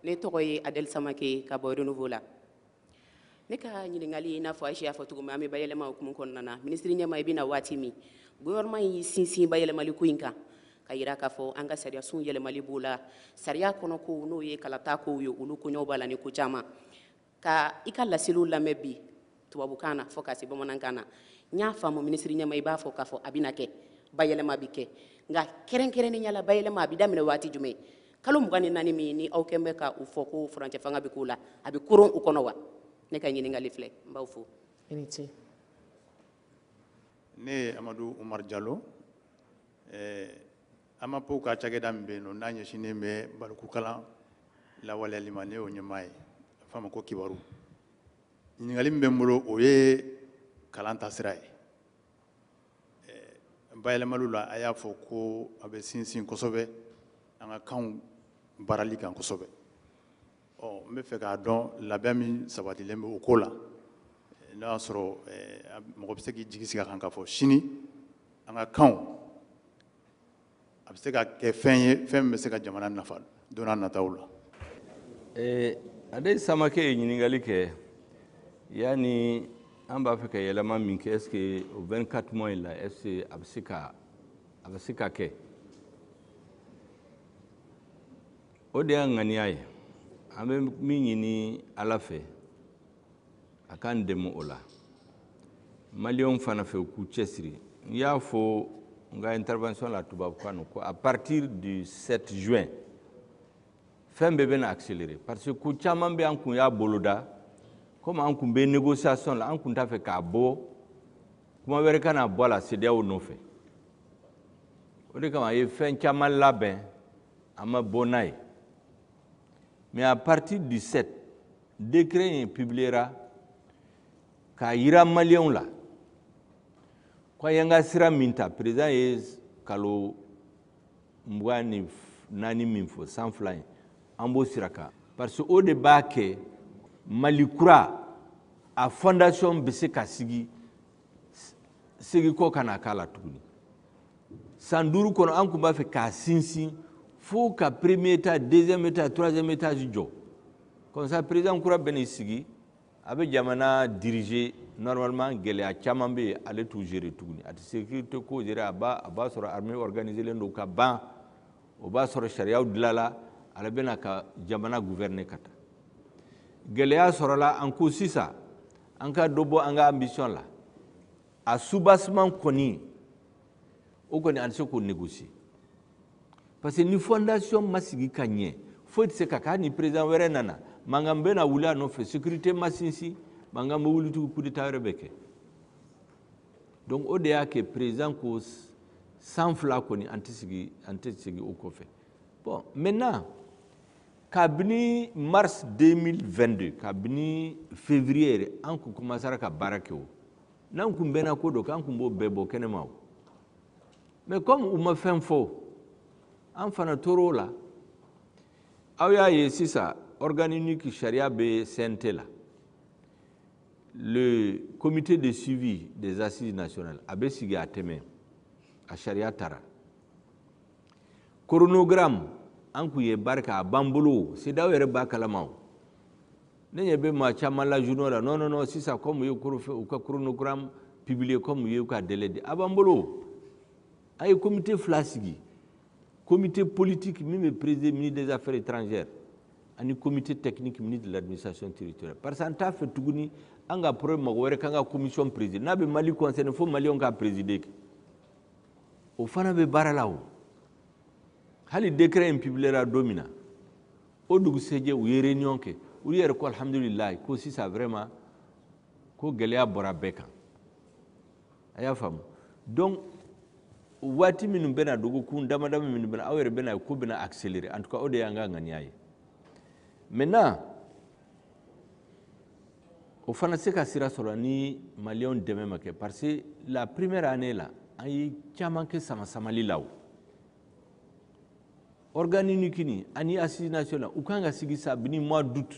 ne tɔgɔ ye adɛli samake ka bɔ renouveau la ne ka ɲininkali i n'a fɔ ayise y'a fɔ cogo min an bɛ bayɛlɛma hukumu kɔnɔna na minisiri ɲɛmaa i bɛ na waati min gouvernement y'i sinsin bayɛlɛmali ko in kan ka yira k'a fɔ an ka sariyasunw yɛlɛmali b'o la sariya kɔnɔ kow n'o ye kalata kow ye olu koɲɛw b'a la ni ko caman ka i ka laseliw lamɛn bi tubabukan na fo ka se bamanankan na n y'a faamu minisiri ɲɛmaa i b'a fɔ k'a fɔ a bɛna kɛ bayɛlɛma bɛ kɛ nka kɛrɛnkɛrɛnnenya la bayɛlɛma a bɛ daminɛ waati jumɛn kalo mugan ni naani minnu aw kun bɛ ka u fɔ ko furancɛ fanga bɛ k'u la a bɛ koron u kɔnɔ wa ne ka ɲininkali filɛ n b'aw fo ne ye amadu umar jalo eh, AMAP ka cakɛda min bɛ yen nɔ n'a ɲɛsinnen bɛ balikukalan lawaleyali ma ne y'o ɲɛmaa ye a bɛ fɔ a ma ko kibaru ɲininkali min bɛ n bolo o ye kalan taasira ye bayɛlɛmaliw la a y'a fɔ ko a bɛ sinsin kosɛbɛ an ka kanw baarali kan kosɛbɛ ɔ n bɛ fɛ k'a dɔn labɛn min sabatilen bɛ o ko la n'o y'a sɔrɔ mɔgɔ bɛ se k'i jigi sigi a kan k'a fɔ sini an ka kanw a bɛ se ka kɛ fɛn ye fɛn min bɛ se ka jamana nafa don nataw la. Ee, Adɛli Samake ye ɲininkali kɛ yan ni an b'a fɛ ka yɛlɛma min kɛ est-ce que o 24 mois in la est-ce que a bɛ se ka a bɛ se ka kɛ o de y'an ŋaniya ye an bɛ min ɲini Ala fɛ a k'an dɛmɛ o la maliyɛnw fana fɛ u k'u cɛsiri n y'a fɔ n ka intervention la tubabukan na ko à partir du 7 juin fɛn bɛɛ bɛna accélérer parce que ko caman bɛ an kun y'a boloda komi an kun bɛ négociation la an kun t'a fɛ k'a bɔ kuma wɛrɛ kana bɔ a la CEDEAO nɔfɛ o de kama an ye fɛn caman labɛn an ma bɔ n'a ye Mais à partir du 7, décret in publiera k'a yira maliyɛnw la ko an ka sira min ta président ye kalo mugan ni naani min fɔ san fila in an b'o sira kan parce que o de b'a kɛ mali kura a fondation bɛ se ka sigi seginkɔ kana k'a la tuguni san duuru kɔnɔ an kun b'a fɛ k'a sinsin fo ka premier étage deuxième étage troisième étage jɔ comme ça président kura bɛ n'i sigi a bɛ jamana diriger normalement gɛlɛya caman bɛ yen ale t'u gérer tuguni a tɛ sécurité ko gérer a b'a a b'a sɔrɔ armée organisée len don ka ban o b'a sɔrɔ sariyaw dilanna ale bɛna ka jamana gouverner ka taa gɛlɛya sɔrɔla an ko sisan an ka dɔ bɔ an ka ambition la a soubassement kɔni o kɔni an tɛ se k'o négocier parce que ni fondation ma sigi ka ɲɛ foyi tɛ se ka k'a ni président wɛrɛ nana mankan bɛna wuli a nɔfɛ sécurité ma sinsin mankan bɛ wuli tugun coup d'état wɛrɛ bɛ kɛ donc o de y'a kɛ président ko san fila kɔni an tɛ sigi o kɔfɛ bon maintenant kabini mars 2022 kabini février yɛrɛ an kun commencera ka baara kɛ o n'an kun bɛnna ko dɔ kan an kun b'o bɛɛ bɔ kɛnɛma o mais comme u ma fɛn fɔ an fana tor'o la aw y'a ye sisan organe unique sariya bɛ CNT la le comité de suivi des assises nationales a bɛ sigi a tɛ mɛɛn a sariya tara chronogramme an kun ye baara kɛ a b'an bolo CEDEAO yɛrɛ b'a kalama o ne ɲɛ bɛ maa caman la journaux la non non non sisan comme u ye u ka chronogramme publier comme u ye u ka délai di a b'an bolo a ye comité fila sigi comité politique min bɛ présider ministre des affaires étrangères ani comité technique ministre de l'administration territoriale parce que an t'a fɛ tuguni an ka problème mɔgɔ wɛrɛ k'an ka commission présider n'a bɛ Mali concerner fo maliyɛnw k'a présider kɛ o fana bɛ baara la o hali décret in publiera don min na o dugusɛjɛ u ye réunion kɛ u yɛrɛ ko alhamdulilayi ko sisan vraiment ko gɛlɛya bɔra bɛɛ kan a y'a faamu donc waati minnu bɛna dɔgɔkun damadama minnu bɛna aw yɛrɛ bɛna ko bɛna accélérer en tout cas o de y'an ka ŋaniya ye maintenant o fana se ka sira sɔrɔ ni maliyɛnw dɛmɛ ma kɛ parce que la première année la an ye caman kɛ samasamali la o organe unique ni ani assises nationales u kan ka sigi kabini mois d'août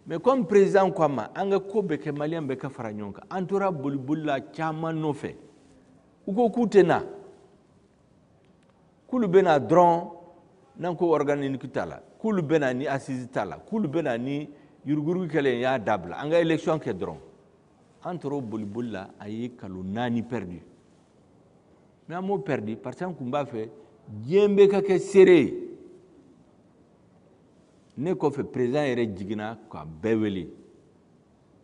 mais comme président ko an ma an ka ko bɛɛ kɛ maliyɛn bɛɛ ka fara ɲɔgɔn kan an tora boliboli la caman nɔfɛ u ko k'u tɛ na k'olu bɛ na dɔrɔn n'an ko organe unique t'a la k'olu bɛ na ni assises t'a la k'olu bɛ na ni yuruguyurugu kɛlɛ y'a dabila an ka élection kɛ dɔrɔn an tor'o boliboli la an ye kalo naani perdu mais an m'o perdu parce que an tun b'a fɛ diɲɛ bɛɛ ka kɛ seere ye ne kɔfɛ président yɛrɛ jiginna ka bɛɛ wele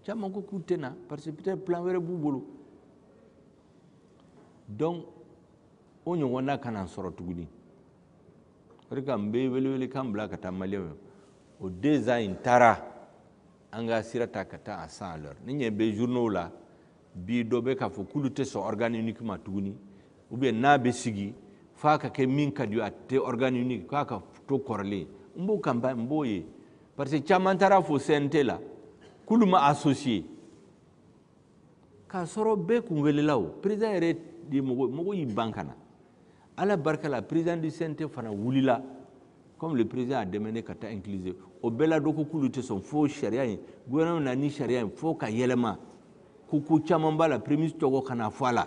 caman ko k'u tɛ na parce que peut-être plan wɛrɛ b'u bolo donc o ɲɔgɔnna kana sɔrɔ tuguni o de kan n bɛ welewelekan bila ka taa maliyɛnw o deux ans in taara an ka sira ta ka taa à cent à l'heure n'i ɲɛ bɛ journaux la bi dɔ bɛ k'a fɔ k'olu tɛ sɔn organe unique ma tuguni ou bien n'a bɛ sigi f'a ka kɛ min ka di a tɛ organe unique k'a ka to kɔrɔlen n b'o kan n b'o ye parce que caman taara a fɔ CNT la k'olu ma associer k'a sɔrɔ bɛɛ kun welela o président yɛrɛ de mɔgɔ mɔgɔ y'i ban ka na ala barika la président du CNT fana wulila comme le président a demandé ka taa incluse o bɛɛ la dɔ ko k'olu tɛ sɔn fo sariya in gouvernement na ni sariya in fo ka yɛlɛma ko ko caman b'a la premier ministre tɔgɔ kana fɔ a la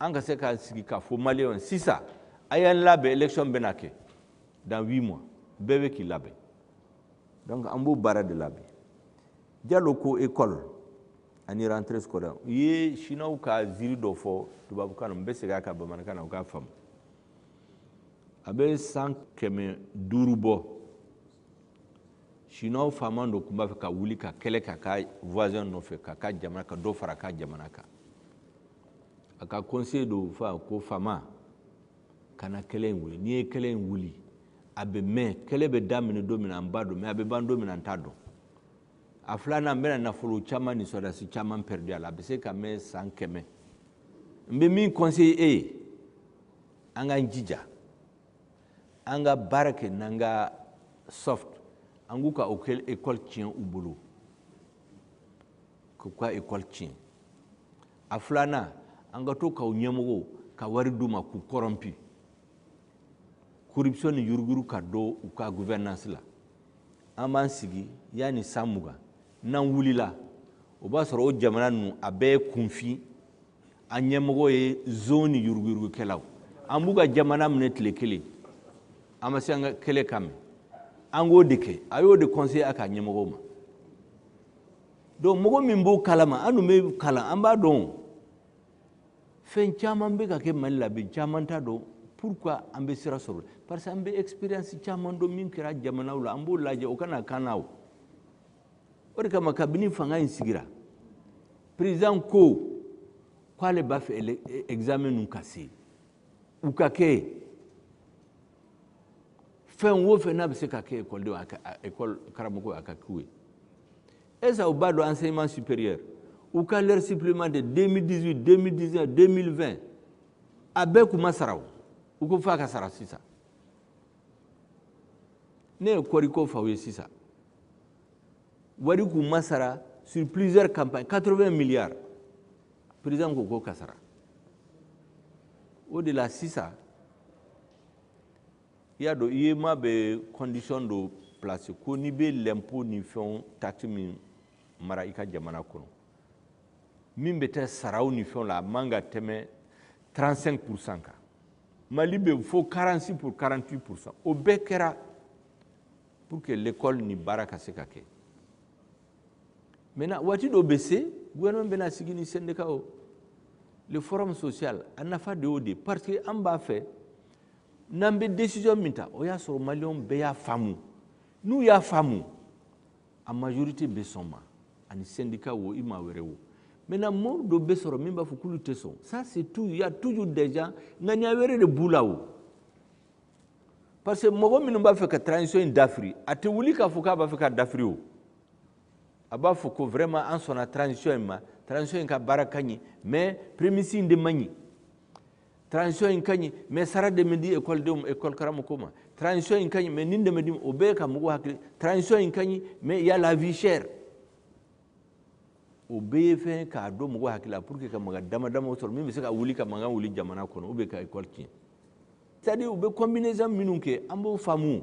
an ka se ka sigi k'a fɔ maliyɛnw sisan a y'an labɛn élection bɛna kɛ dans huit mois bɛɛ bɛ k'i labɛn donc an b'o baara de la bi jalo ko école ani rentrée scolaire u ye chinois ka ziiri dɔ fɔ tubabukan na n bɛ segin a kan bamanankan na u k'a faamu a bɛ san kɛmɛ duuru bɔ chinois faama dɔ tun b'a fɛ ka wuli ka kɛlɛ k'a ka voisin nɔfɛ k'a ka jamana ka dɔ fara a ka jamana kan a ka conseiller dɔ y'a fɔ ko faama kana kɛlɛ in wuli n'i ye kɛlɛ in wuli a bɛ mɛn kɛlɛ bɛ daminɛ don min na an b'a dɔn mais a bɛ ban don min na an t'a dɔn a filanan n bɛna nafolo caman ni sɔrɔdasi caman pɛridi a la a bɛ se ka mɛn san kɛmɛ n bɛ min conseiller e ye an k'an jija an ka baara kɛ n'an ka soft an k'u ka o kɛ ekɔli tiɲɛ u bolo k'u ka ekɔli tiɲɛ a filanan an ka to k'u ɲɛmɔgɔw ka wari d'u ma k'u kɔrɔnpi corruption ni yuruguyurugu ka don u ka gouvernance la an b'an sigi yanni san mugan n'an wulila o b'a sɔrɔ o jamana ninnu a bɛɛ ye kunfin a ɲɛmɔgɔ ye zon ni yuruguyurugukɛlaw an b'u ka jamana minɛ tile kelen an ma se an ka kɛlɛ ka mɛn an k'o de kɛ a y'o de conseiller a ka ɲɛmɔgɔw ma donc mɔgɔ min b'o kalama an dun bɛ kalan an b'a dɔn fɛn caman bɛ ka kɛ mali la bi caman t'a dɔn pourquoi an bɛ sira sɔrɔ parce que an bɛ expérience caman dɔn min kɛra jamanaw la an b'o lajɛ o kana k'an na o o de kama kabini fanga in sigira président ko k'ale b'a fɛ examen ninnu ka se u ka kɛ fɛn o fɛn n'a bɛ se ka kɛ ekɔlidenw ekɔli karamɔgɔw a ka k'u ye esa u b'a dɔn enseignement supérieur u ka l'heure supplémentaire 2018 2019 2020 a bɛɛ kun ma sara o u ko f'a ka sara sisan ne ye kɔɔriko f'aw ye sisan wari k'u ma sara sur plusieurs campagnes 80 milliards président ko k'o ka sara o de la sisan i y'a dɔn uemoa bɛ condition dɔ placer ko n'i bɛ l'impôt ni fɛnw taxe min mara i ka jamana kɔnɔ min bɛ taa saraw ni fɛnw la a man ka tɛmɛ 35 pourcent kan mali bɛ fo 46 pour 48 pourcent o bɛɛ kɛra pour que l'école ni baara ka se ka kɛ maintenant waati dɔ bɛ se gouvernement bɛna sigi ni syndicat o le forum social a nafa de y'o de parce que an b'a fɛ n'an bɛ décision min ta o y'a sɔrɔ maliyɛnw bɛɛ y'a faamu n'u y'a faamu a majorité bɛ sɔn a ma ani syndicat wo i maa wɛrɛ wo maintenant mɔgɔ dɔ bɛ sɔrɔ min b'a fɔ k'olu tɛ sɔn ça c'est tout il y a toujours des gens ŋaniya wɛrɛ de b'u la wo parce que mɔgɔ minnu b'a fɛ ka transition in dafiri a tɛ wuli k'a fɔ k'a b'a fɛ k'a dafiri o a b'a fɔ ko vraiment an sɔnna transition in ma transition in ka baara ka ɲi mais premier ministre de man ɲi transition in ka ɲi mais sara de ma di école denw école karamɔgɔw ma transition in ka ɲi mais nin de man di o bɛɛ ka mɔgɔw hakili transition in ka ɲi mais y a la vie chère o bɛɛ ye fɛn k'a don mɔgɔw hakili la pour que ka maga dama damaw sɔrɔ min bɛ se ka wuli ka mankan wuli jamana kɔnɔ ou bien ka école tiɲɛ c'est à dire u bɛ combinaison minnu kɛ an b'o faamu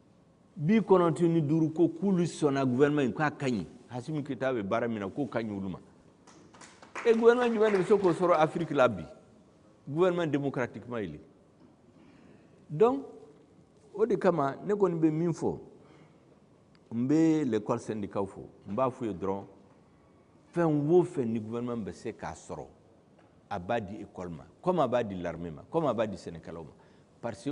bi kɔnɔntɔn ni duuru ko k'olu sɔnna gouvernement in k'a ka ɲi asimi goyita bɛ baara min na k'o ka ɲi olu ma e gouvernement jumɛn de bɛ se k'o sɔrɔ afiriki la bi gouvernement démocratiquement élu donc o de kama ne kɔni bɛ min fɔ n bɛ l'école syndicat fo n b'a f'u ye dɔrɔn fɛn o fɛn ni gouvernement bɛ se k'a sɔrɔ a b'a di école ma comme a b'a di l'armée ma comme a b'a di sɛnɛkɛlaw ma parce que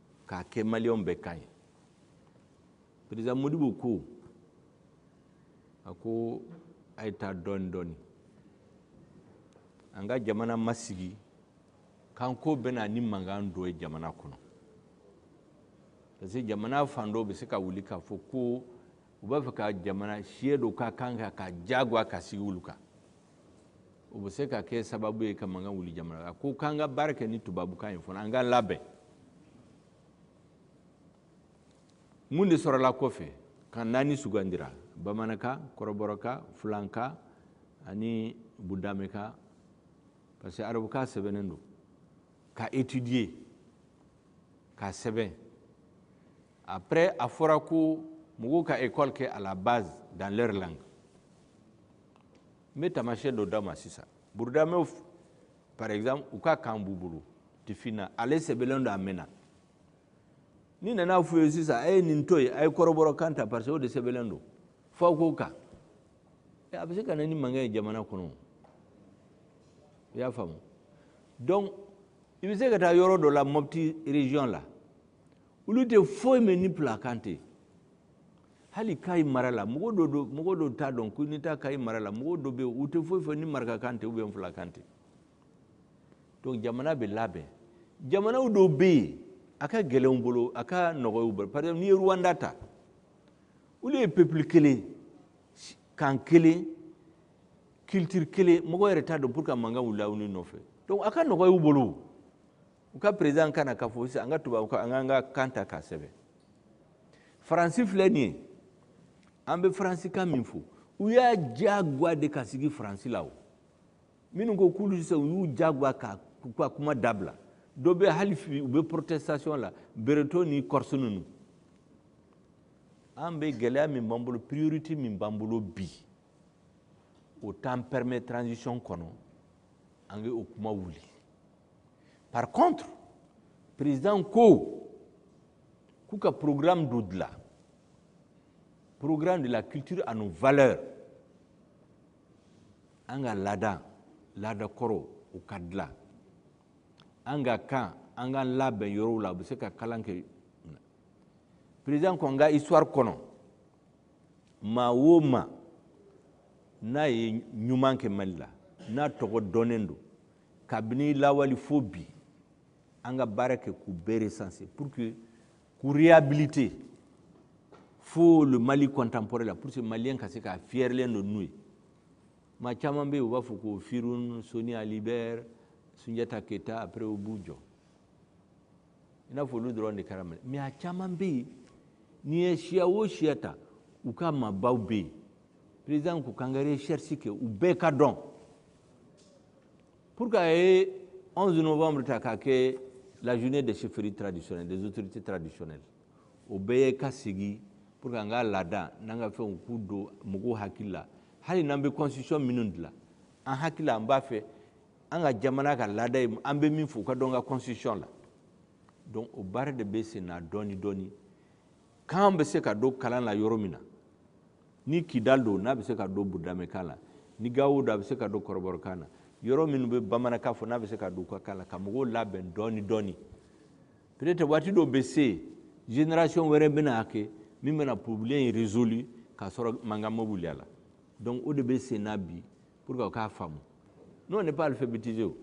k'a kɛ maliyɛnw bɛɛ kan ye président modibo ko a ko a ye taa dɔɔni dɔɔni an ka jamana ma sigi kanko bɛ na ni mankan dɔ ye jamana kɔnɔ parce que jamana fan dɔw bɛ se ka wuli k'a fɔ ko u b'a fɛ ka jamana siya dɔ ka kan ka k'a jagoya k'a sigi olu kan o bɛ se ka kɛ sababu ye ka mankan wuli jamana la ko k'an ka baara kɛ ni tubabukan ye fɔlɔ an k'an labɛn mun de sɔrɔla kɔfɛ kan naani sugandira bamanankan kɔrɔbɔrɔkan fulankan ani budamɛkan parce que arabukan sɛbɛnnen don k'a étudier k'a sɛbɛn après a fɔra ko mɔgɔw ka école kɛ à la base dans leur langue n bɛ taamasiyɛn dɔ d'a ma sisan burudamɛw par exemple u ka kan b'u bolo tifinna ale sɛbɛnlen don a mɛnna n'i nan'a f'u ye sisan a ye nin to yen a ye kɔrɔbɔrɔ kan ta parce que o de sɛbɛnlen don f'aw k'o kan a bɛ se ka na ni mankan ye jamana kɔnɔ i y'a faamu donc i bɛ se ka taa yɔrɔ dɔ la mɔpti région la olu tɛ foyi mɛn ni fulakan tɛ hali kayi mara la mɔgɔ dɔ don mɔgɔ dɔ t'a dɔn ko n'i taa kayi mara la mɔgɔ dɔ bɛ yen u tɛ foyi fɔ ni marakakan tɛ ou bien fulakan tɛ donc jamana bɛ labɛn jamanaw dɔw bɛ yen a ka gɛlɛn u bolo a ka nɔgɔn u bolo par exemple n'i ye rwanda ta olu ye peuple kelen kan kelen culture kelen mɔgɔ yɛrɛ t'a dɔn pourquoi mankan wulila u ni ɲɔgɔn cɛ donc a ka nɔgɔn u bolo u ka président ka na k'a fɔ sisan an ka tubabu an k'an ka kan ta k'a sɛbɛn faransi filɛ nin ye an bɛ faransikan min fɔ u y'a diyagoya de ka sigi faransi la o minnu ko k'olu tɛ se u y'u diyagoya ka k'u ka kuma dabila dɔ bɛ hali bi u bɛ protestation la bretons ni corses ninnu an bɛ gɛlɛya min b'an bolo priorité min b'an bolo bi o t'an permet transition kɔnɔ an ka o kuma wuli par contre président ko k'u ka programme dɔ dilan programme de la culture à nos valeurs an ka laada laada kɔrɔ o ka dilan an ka kan an ka labɛn yɔrɔw la u bɛ se ka kalan kɛ président ko an ka histoire kɔnɔ maa o maa n'a ye ɲuman kɛ mali la n'a tɔgɔ dɔnnen don kabini lawali fo bi an ka baara kɛ k'u bɛɛ recenser pour que k'u réhabiliter fo le Mali contemporain la pour que Malien ka se k'a fiyɛrilen don n'u ye maa caman bɛ yen u b'a fɔ ko Firhoun Soni Ali Bɛri Sunjata Keyita après u b'u jɔ i n'a fɔ olu dɔrɔn de kɛra mali mais a caman bɛ yen n'i ye siya o siya ta u ka maabaw bɛ yen président ko k'an ka recherche kɛ u bɛɛ ka dɔn pour que a ye 11 novembre ta k'a kɛ la journée des chefferies traditionnelles des autorités traditionnelles o bɛɛ ye ka sigi pour que an ka laada n'an ka fɛnw k'u don mɔgɔw hakili la hali n'an bɛ constitution minnu dilan an hakili la an b'a fɛ an ka jamana ka laada ye an bɛ min fɔ u ka don an ka constitution la donc o baara de bɛ sen na dɔɔni dɔɔni kan bɛ se ka don kalan na yɔrɔ min na ni kidal don n'a bɛ se ka don burudamɛkan la ni gawo don a bɛ se ka don kɔrɔbɔrɔkan na yɔrɔ minnu bɛ bamanankan fɔ n'a bɛ se ka don u ka kan la ka mɔgɔw labɛn dɔɔni dɔɔni peut-être waati dɔw bɛ se génération wɛrɛ bɛna a kɛ min bɛna problème in résolu k'a sɔrɔ mankan ma wuli a la donc o de bɛ sen na bi pour que o k'a faamu ni on n'est pas alphabétisé o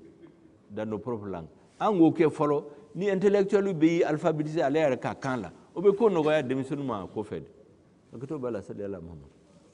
dans nos propres langues an k'o kɛ fɔlɔ ni intellectuel bɛɛ y'i alphabétisé ale yɛrɛ ka kan la o bɛ ko nɔgɔya denmisɛnninw ma a kɔfɛ dɛ hakɛto b'a la sali ala muhamadu